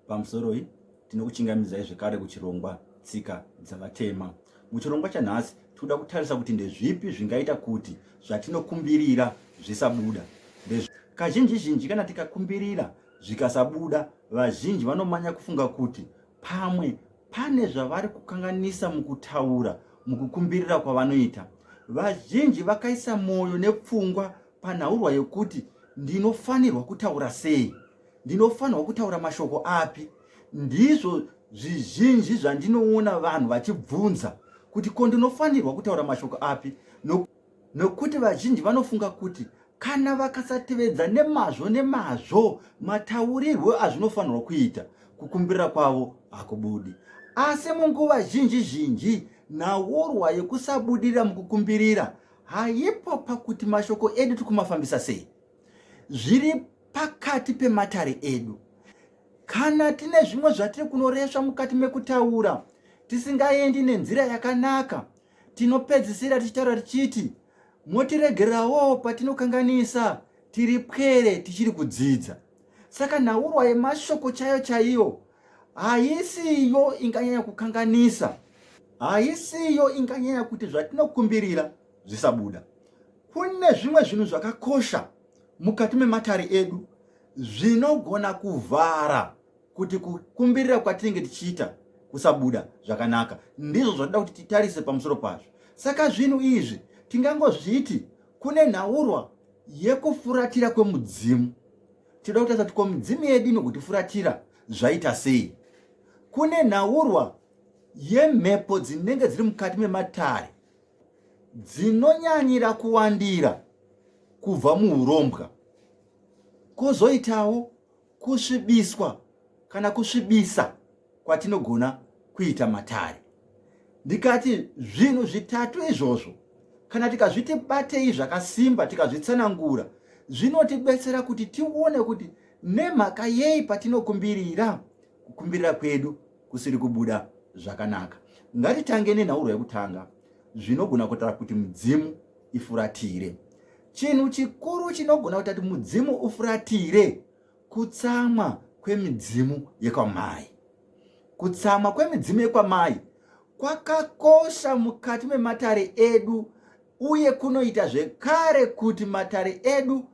Pamusoroi tinokuchingamidzai zvekare kuchirongwa tsika dzavatema. Muchirongwa chanhasi tikuda kutarisa kuti ndezvipi zvingaita kuti zvatinokumbirira zvisabuda. Kazhinji zhinji kana tikakumbirira zvikasabuda, vazhinji vanomanya kufunga kuti pamwe pane zvavari kukanganisa mukutaura mukukumbirira kwavanoita. Vazhinji vakaisa mwoyo nepfungwa panhaurwa yekuti ndinofanirwa kutaura sei ndinofanirwa kutaura mashoko api ndizvo zvizhinji zvandinoona vanhu vachibvunza kuti ko ndinofanirwa kutaura mashoko api nokuti vazhinji vanofunga kuti kana vakasatevedza nemazvo nemazvo mataurirwo azvinofanirwa kuita kukumbirira kwavo hakubudi asi munguva zhinji zhinji nhaurwa yekusabudirira mukukumbirira haipo pakuti mashoko edu tikumafambisa sei zviri pakati pematare edu kana tine zvimwe zvatiri kunoresva mukati mekutaura tisingaendi nenzira yakanaka tinopedzisira tichitaura tichiti motiregererawo patinokanganisa tiri pwere tichiri kudzidza saka nhaurwa yemashoko chaiyo chaiyo haisiyo inganyanya kukanganisa haisiyo inganyanya kuti zvatinokumbirira zvisabuda kune zvimwe zvinhu zvakakosha mukati mematare edu zvinogona kuvhara kuti kukumbirira kwatinenge tichiita kusabuda zvakanaka ndizvo zvatoda kuti titarise pamusoro pazvo saka zvinhu izvi tingangozviti kune nhaurwa yekufuratira kwemudzimu tinoda kutarisa kuti ko midzimu yedu inokutifuratira zvaita sei kune nhaurwa yemhepo dzinenge dziri mukati mematare dzinonyanyira kuwandira kubva muurombwa kwozoitawo kusvibiswa kana kusvibisa kwatinogona kuita matare ndikati zvinhu zvitatu izvozvo kana tikazviti batei zvakasimba tikazvitsanangura zvinotibetsera kuti tione kuti nemhaka yei patinokumbirira kukumbirira kwedu kusiri kubuda zvakanaka. Ngatitange nenhaurwa yekutanga zvinogona kutara kuti mudzimu ifuratire. Chinhu chikuru chinogona kuita kuti mudzimu ufuratire kutsamwa kwemidzimu yekwamai. Kutsamwa kwemidzimu yekwamai kwakakosha mukati mematare edu uye kunoita zvekare kuti matare edu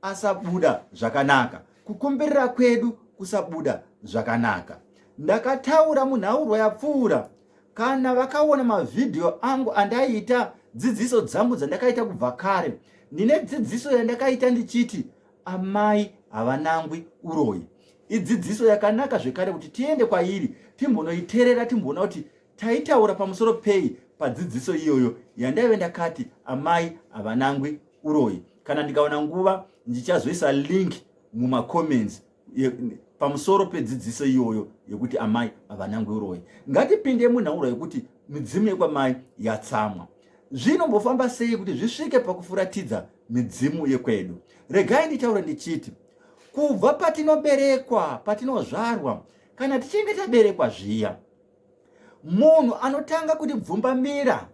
asabuda zvakanaka kukomberera kwedu kusabuda zvakanaka ndakataura munhaurwa yapfuura kana vakaona mavhidhiyo angu andaiita dzidziso dzangu dzandakaita kubva kare ndine dzidziso yandakaita ndichiti amai havanangwi uroyi idzidziso yakanaka zvekare kuti tiende kwairi timbonoiterera timboona kuti taitaura pamusoro pei padzidziso iyoyo yandaive ndakati amai havanangwi uroyi kana ndikawana nguva ndichazoisa link mumacomments pamusoro pedzidziso iyoyo yekuti amai havanangwe uroyi ngatipinde munhauro yekuti midzimu yekwamai yatsamwa zvinombofamba sei kuti zvisvike pakufuratidza midzimu yekwedu regai nditaure ndichiti kubva patinoberekwa patinozvarwa kana tichinge taberekwa zviya munhu anotanga kutibvumbamira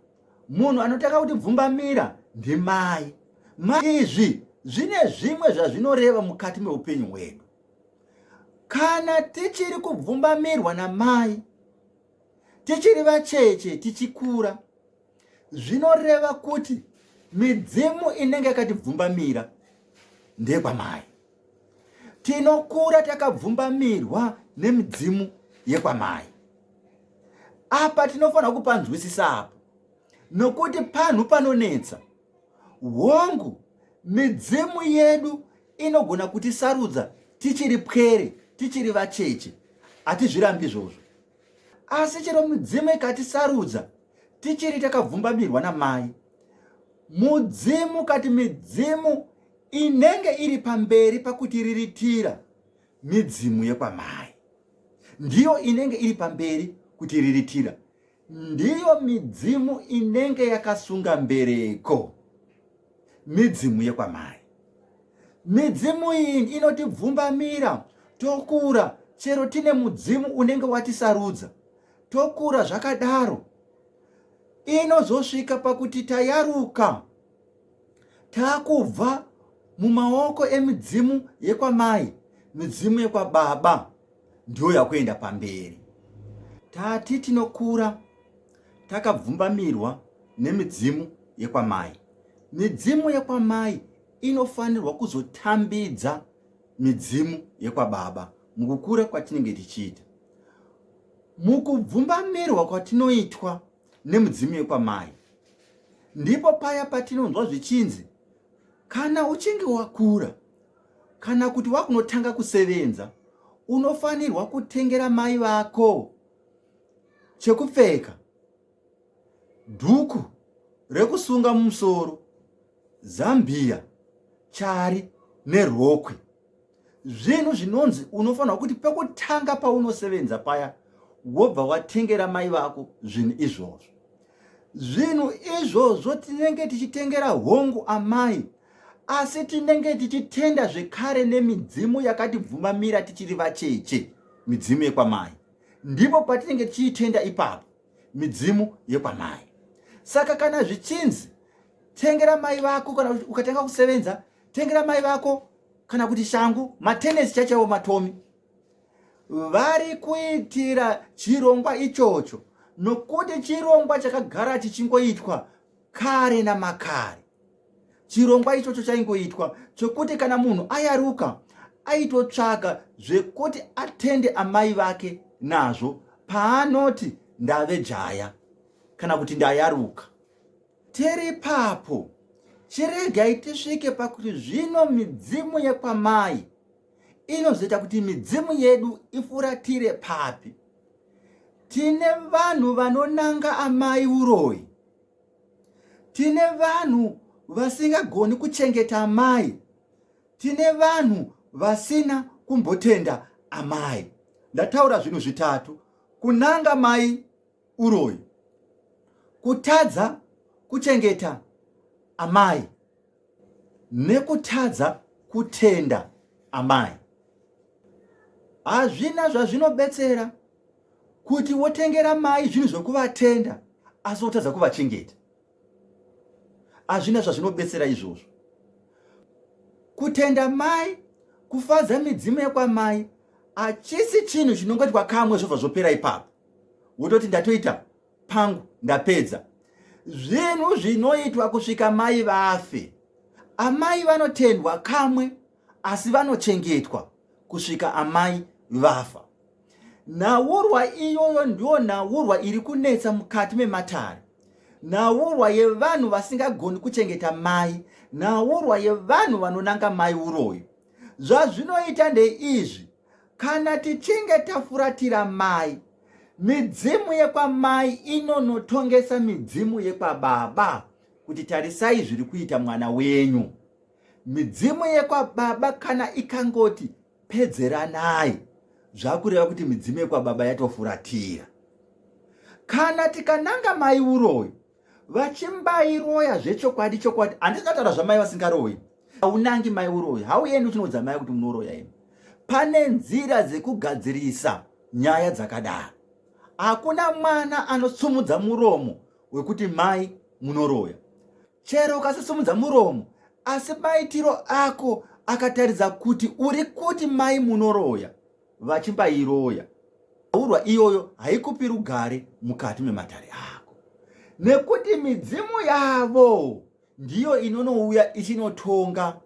Munhu anotanga kuti bvumbamira ndimai. Mai izvi zvine zvimwe zvazvinoreva mukati meupenyu hwedu. Kana tichiri kubvumbamirwa namai, tichiri vacheche tichikura, zvinoreva kuti midzimu inenge yakatibvumbamira ndekwamai. tinokura takabvumbamirwa nemidzimu yekwamai apa tinofanira kupanzwisisa apo nokuti panhu panonetsa hongu midzimu yedu inogona kuti sarudza tichiri pwere tichiri vacheche hatizvirambi izvozvo asi chero midzimu ikatisarudza tichiri takabvumbamirwa namai mudzimu kati midzimu inenge iri pamberi pakutiriritira midzimu yekwamai ndiyo inenge iri pamberi kutiriritira ndiyo midzimu inenge yakasunga mbereko midzimu yekwamai midzimu iyi inotibvumbamira tokura chero tine mudzimu unenge watisarudza tokura zvakadaro inozosvika pakuti tayaruka takubva mumaoko emidzimu yekwamai midzimu yekwababa ndiyo yakuenda pamberi tati tinokura takabvumbamirwa nemidzimu yekwamai midzimu yekwamai inofanirwa kuzotambidza midzimu yekwababa mukukura kwatinenge tichiita mukubvumbamirwa kwatinoitwa nemudzimu yekwamai ndipo paya patinonzwa zvichinzi kana uchinge wakura kana kuti wakunotanga kusevenza unofanirwa kutengera mai vako chekupfeka dhuku rekusunga mumusoro zambiya chari nerokwe zvinhu zvinonzi unofanirwa kuti pekutanga paunosevenza paya wobva watengera mai vako zvinhu izvozvo zvinhu izvozvo tinenge tichitengera hongu amai asi tinenge tichitenda zvekare nemidzimu yakatibvumamira tichiri vacheche midzimu yekwamai ndipo patinenge tichiitenda ipapo midzimu yekwamai saka kana zvichinzi tengera mai vako kana ukatanga kusevenza tengera mai vako kana kuti shangu matenesi chachaiwo matomi vari kuitira chirongwa ichocho nokuti chirongwa chakagara chichingoitwa kare namakare chirongwa ichocho chaingoitwa chokuti kana munhu ayaruka aitotsvaga zvekuti atende amai vake nazvo paanoti ndave jaya kana kuti ndayaruka Tiri papo, chiregai tisvike pakuti zvino midzimu yekwamai inozoita kuti midzimu yedu ifuratire papi. Tine vanhu vanonanga amai uroyi, tine vanhu vasingagoni kuchengeta amai, tine vanhu vasina kumbotenda amai. Ndataura zvinhu zvitatu, kunanga mai uroyi, kutadza kuchengeta amai nekutadza kutenda amai. Hazvina zvazvinobetsera kuti wotengera mai zvinhu zvekuvatenda asi wotadza kuvachengeta. Hazvina zvazvinobetsera izvozvo. Kutenda mai, kufadza midzimu yekwamai hachisi chinhu chinongoitwa kamwe zvobva zvopera ipapo. wototi ndatoita pangu ndapedza zvinhu zvinoitwa kusvika mai vafe amai vanotendwa kamwe asi vanochengetwa kusvika amai vafa nhaurwa iyoyo ndiyo nhaurwa iri kunetsa mukati mematare nhaurwa yevanhu vasingagoni kuchengeta mai nhaurwa yevanhu vanonanga mai uroyi zvazvinoita ndeizvi Kana tichinge tafuratira mai, midzimu yekwamai inonotongesa midzimu yekwababa kuti tarisai zviri kuita mwana wenyu. Midzimu yekwababa kana ikangoti pedzeranai, zvakureva kuti midzimu yekwababa yatofuratira. Kana tikananga mai uroyi, vachimbairoya zvechokwadi chokwadi handizingataura zvamai vasingaroyi haunangi mai uroyi hauendi uchinoudza mai kuti munoroya imi pane nzira dzekugadzirisa nyaya dzakadaro hakuna mwana anosumudza muromo wekuti mai munoroya chero ukasisumudza muromo asi maitiro ako akataridza kuti uri kuti mai munoroya vachibairoya urwa iyoyo haikupi rugare mukati mematare ako nekuti midzimu yavo ndiyo inonouya ichinotonga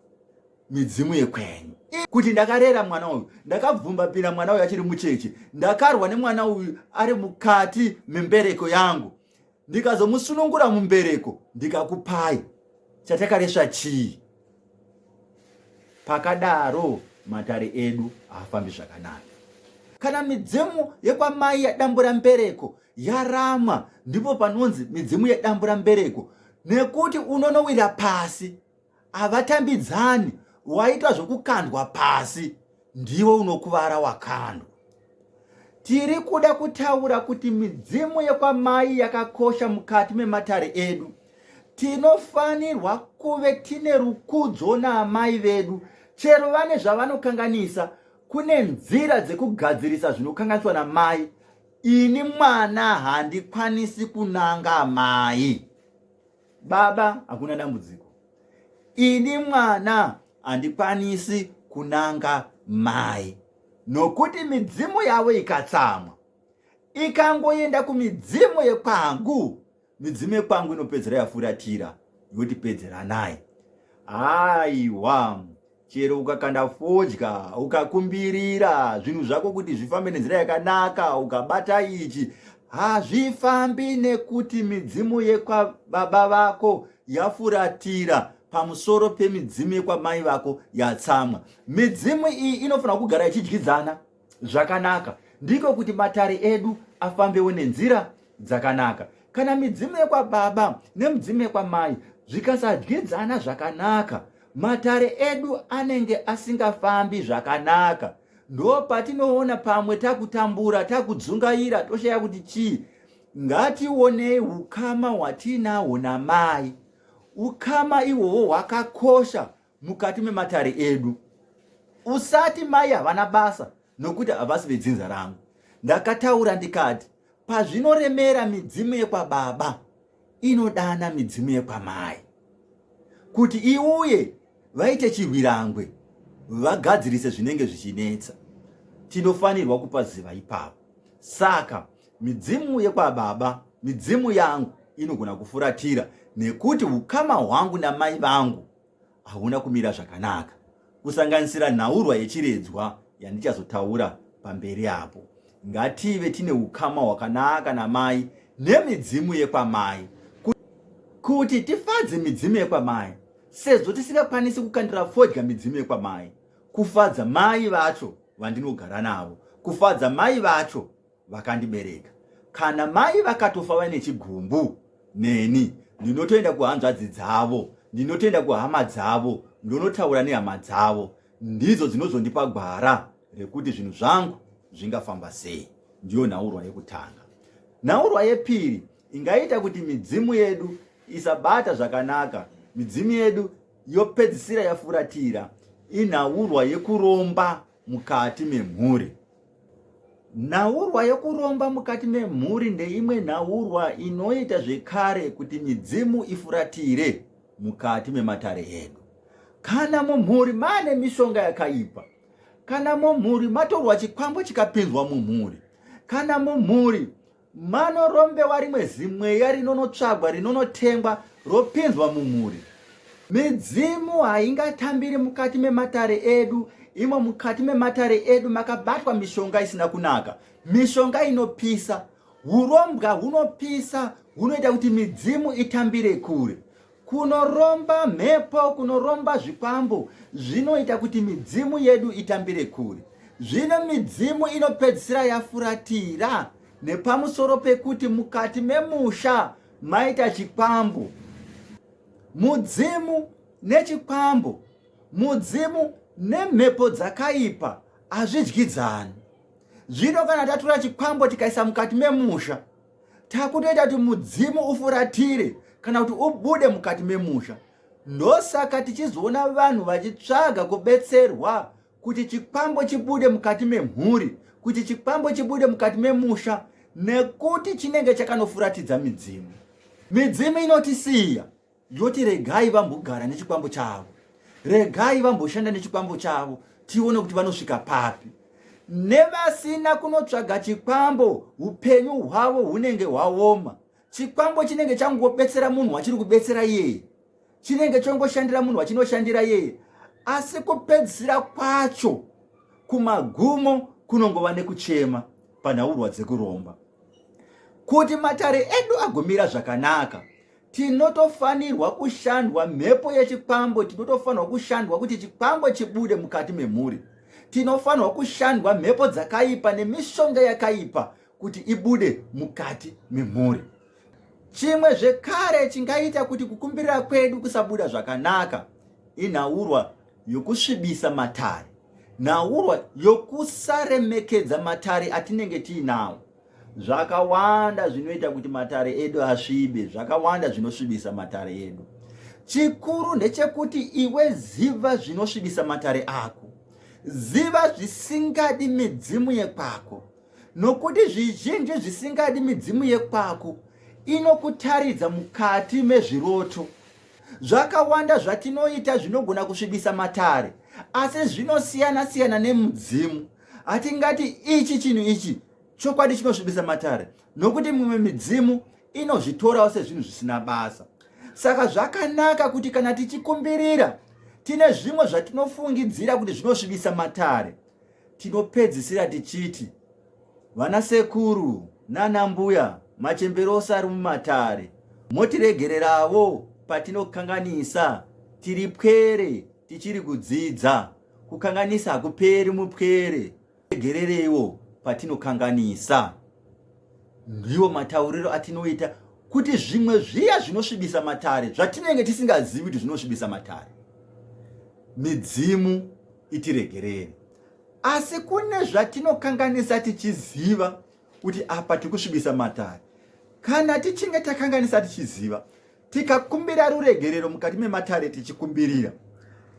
midzimu yekwenyu kuti ndakarera mwana uyu ndakabvumbapira mwana uyu achiri mucheche ndakarwa nemwana uyu ari mukati membereko yangu ndikazomusunungura mumbereko ndikakupai chatakaresva chii pakadaro matare edu haafambi zvakanaka kana midzimu yekwamai yadambura mbereko yaramwa ndipo panonzi midzimu yadambura mbereko nekuti unonowira pasi havatambidzani waita zvokukandwa pasi ndiwe unokuvara wakandwa tiri kuda kutaura kuti midzimu yekwamai yakakosha mukati mematare edu tinofanirwa kuve tine rukudzo naamai vedu chero vane zvavanokanganisa kune nzira dzekugadzirisa zvinokanganiswa namai ini mwana handikwanisi kunanga amai baba hakuna dambudziko ini mwana handikwanisi kunanga mai nokuti midzimu yavo ikatsamwa ikangoenda kumidzimu yekwangu midzimu yekwangu inopedzera yafuratira yotipedzeranai aiwa chero ukakanda fodya ukakumbirira zvinhu zvako kuti zvifambe nenzira yakanaka ukabata ichi hazvifambi nekuti midzimu yekwababa vako yafuratira pamusoro pemidzimu yekwamai vako yatsamwa midzimu iyi inofanira kugara ichidyidzana zvakanaka ndiko kuti matare edu afambewo nenzira dzakanaka kana midzimu yekwababa nemidzimu yekwamai zvikasadyidzana zvakanaka matare edu anenge asingafambi zvakanaka ndo patinoona pamwe takutambura takudzungaira toshaya kuti chii ngationei ukama hwatiinahwo namai ukama ihwohwo hwakakosha mukati mematare edu usati mai havana basa nokuti havasi vedzinza rangu ndakataura ndikati pazvinoremera midzimu yekwababa inodana midzimu yekwamai kuti iuye vaite chirwirangwe vagadzirise zvinenge zvichinetsa tinofanirwa kupa ziva ipapo saka midzimu yekwababa midzimu yangu inogona kufuratira nekuti ukama hwangu namai vangu hauna kumira zvakanaka kusanganisira nhaurwa yechiredzwa yandichazotaura pamberi apo ngative tine ukama hwakanaka namai nemidzimu yekwamai kuti tifadze midzimu yekwamai sezvo tisingakwanisi kukandira fodya midzimu yekwamai kufadza mai vacho vandinogara navo kufadza mai vacho vakandibereka kana mai vakatofa vaine chigumbu neni ndinotoenda kuhanzvadzi dzavo ndinotoenda kuhama dzavo ndonotaura nehama dzavo ndidzo dzinozondipa gwara rekuti zvinhu zvangu zvingafamba sei ndiyo nhaurwa yekutanga nhaurwa yepiri ingaita kuti midzimu yedu isabata zvakanaka midzimu yedu yopedzisira yafuratira inhaurwa yekuromba mukati memhuri. Nhaurwa yokuromba mukati memhuri ndeimwe nhaurwa inoita zvekare kuti midzimu ifuratire mukati mematare edu. Kana mumhuri maane mishonga yakaipa, kana mumhuri matorwa chikwambo chikapinzwa mumhuri, kana mumhuri Mano rombewa rimwe zimweya rinonotsvagwa rinonotengwa ropinzwa mumhuri. Midzimu haingatambiri mukati mematare edu imo mukati mematare edu makabatwa mishonga isina kunaka mishonga inopisa urombwa hunopisa hunoita kuti midzimu itambire kure Kunoromba mhepo, kunoromba zvikwambo zvinoita kuti midzimu yedu itambire kure. Zvino midzimu inopedzisira yafuratira nepamusoro pekuti mukati memusha maita chikwambo. Mudzimu nechikwambo, mudzimu nemhepo dzakaipa hazvidyidzani. Zvino kana tatura chikwambo tikaisa mukati memusha, takutoita kuti mudzimu ufuratire kana kuti ubude mukati memusha ndosaka tichizoona vanhu vachitsvaga kubetserwa kuti chikwambo chibude mukati memhuri kuti chikwambo chibude mukati memusha nekuti chinenge chakanofuratidza midzimu midzimu inotisiya yoti regai vambogara nechikwambo chavo regai vamboshanda nechikwambo chavo tione kuti vanosvika papi nevasina kunotsvaga chikwambo upenyu hwavo hunenge hwaoma chikwambo chinenge changobetsera munhu wachiri kubetsera iyeye chinenge chongoshandira munhu wachinoshandira iyeye asi kupedzisira kwacho kumagumo kunongova nekuchema panhaurwa dzekuromba kuti matare edu agomira zvakanaka tinotofanirwa kushandwa mhepo yechikwambo tinotofanirwa kushandwa kuti chikwambo chibude mukati memhuri tinofanirwa kushandwa mhepo dzakaipa nemishonga yakaipa kuti ibude mukati memhuri chimwe zvekare chingaita kuti kukumbirira kwedu kusabuda zvakanaka inhaurwa yokusvibisa matare nhaurwa yokusaremekedza matare atinenge tiinawo zvakawanda zvinoita kuti matare edu asvibe zvakawanda zvinosvibisa matare edu chikuru ndechekuti iwe ziva zvinosvibisa matare ako ziva zvisingadi midzimu yekwako nokuti zvizhinji zvisingadi midzimu yekwako inokutaridza mukati mezviroto zvakawanda zvatinoita zvinogona kusvibisa matare asi zvinosiyana siyana nemudzimu hatingati ichi chinhu ichi chokwadi chinosvibisa matare nokuti mumwe midzimu inozvitorawo sezvinhu zvisina basa saka zvakanaka kuti kana tichikumbirira tine zvimwe zvatinofungidzira kuti zvinosvibisa matare tinopedzisira tichiti vana sekuru nana mbuya machembero ose ari mumatare motiregererawo patinokanganisa tiri pwere tichiri kudzidza Kukanganisa hakuperi mupwere. Tegerereiwo patinokanganisa. Ndiwo matauriro atinoita kuti zvimwe zviya zvinosvibisa matare zvatinenge tisingazivi kuti zvinosvibisa matare. Midzimu itiregerere. Asi kune zvatinokanganisa tichiziva kuti apa tiri kusvibisa matare. Kana tichinge takanganisa tichiziva, Tikakumbira ruregerero mukati mematare tichikumbirira,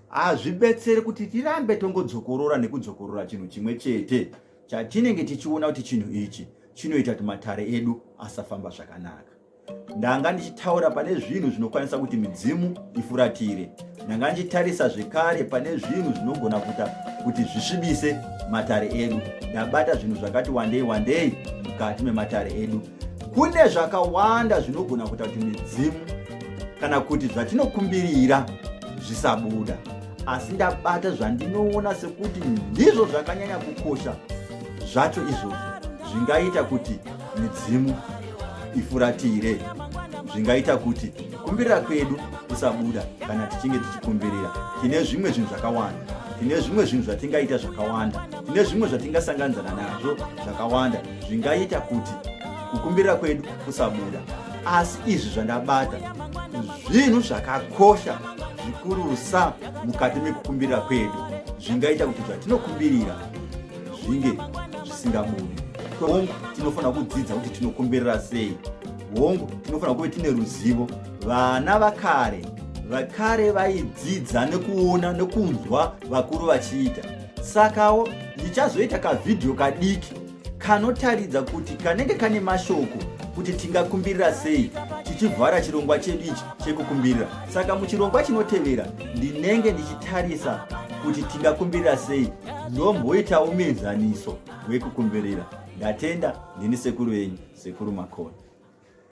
hazvibetsere kuti tirambe tongodzokorora nekudzokorora chinhu chimwe chete chatinenge tichiona kuti chinhu ichi chinoita kuti matare edu asafamba zvakanaka. Ndanga ndichitaura pane zvinhu zvinokwanisa kuti midzimu ifuratire. Ndanga ndichitarisa zvekare pane zvinhu zvinogona kuita kuti zvisvibise matare edu. Ndabata zvinhu zvakati wandei wandei mukati mematare edu kune zvakawanda zvinogona kuita kuti midzimu kana kuti zvatinokumbirira zvisabuda asi ndabata zvandinoona sekuti ndizvo zvakanyanya kukosha zvacho izvozvo zvingaita kuti midzimu ifuratire zvingaita kuti kumbirira kwedu kusabuda kana tichinge tichikumbirira tine zvimwe zvinhu zvakawanda tine zvimwe zvinhu zvatingaita zvakawanda tine zvimwe zvatingasanganidzana nazvo zvakawanda zvingaita kuti kukumbira kwedu kusabuda asi izvi zvandabata zvinhu zvakakosha zvikurusa mukati mekukumbirira kwedu zvingaita kuti zvatinokumbirira zvinge zvisingabudi hongu tinofanira kudzidza kuti tinokumbirira sei hongu tinofanira kuve tine ruzivo vana vakare vakare vaidzidza nekuona nekunzwa vakuru vachiita Sakawo ndichazoita kavhidhiyo kadiki kanotaridza kuti kanenge kane mashoko kuti tingakumbirira sei tichivhara chirongwa chedu ichi chekukumbirira saka muchirongwa chinotevera ndinenge ndichitarisa kuti tingakumbirira sei ndomboitawo muenzaniso wekukumbirira ndatenda ndini sekuru venyu sekuru makona